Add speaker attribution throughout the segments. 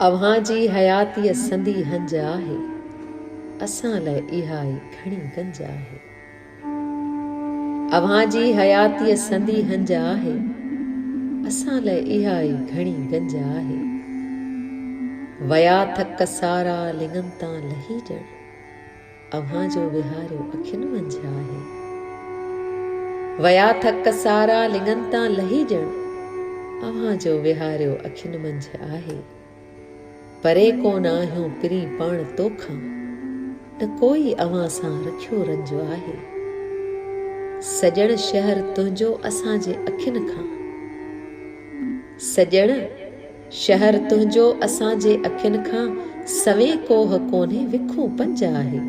Speaker 1: اوهان جي حياتيء سندي هنج آهي، اسان لئه اها ئي گهڻي گنج آهي. اوهان جي حياتيء سندي هنج آهي، اسان لئه اها ئي گهڻي گنج آهي. ويا ٿڪ سارا لڱن تان لهي ڄڻ. اوهان جو ويهاريو اکين منجهه آهي. ويا ٿڪ سارا لڱن تان لهي ڄڻ اوهان جو ويهاريو اکين منجهه آهي. پري ڪونه آهيون پرين پاڻ تو کان نه ڪوئي اوهان سان رکيو رنج آهي. سڄڻ شهر تنهنجو اسان جي اکين کان سڄڻ. شهر تنهنجو اسان جي اکين کان سوين ڪوه ڪونهي وکون پنج آهي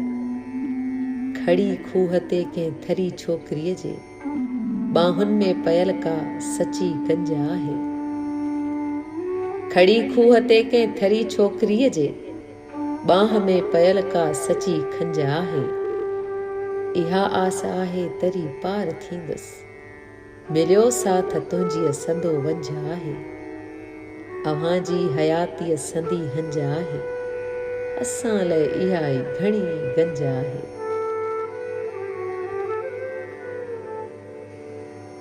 Speaker 1: کڙي کوهه تي ڪنهن ٿري ڇوڪريء جي ٻانهن ۾ پيل ڪا سچي گنج آهي کڙي کوهه تي ڪنهن ٿري ڇوڪريء جي ٻانهن ۾ پيل ڪا سچي کنج آهي اها آس آهي تري پار ٿيندس مليو ساٿ تنهنجيء سندو ونجهه آهي، اوهان جي حياتيء سندي هنج آهي، اسان لئه اها ئي گهڻي گنج آهي.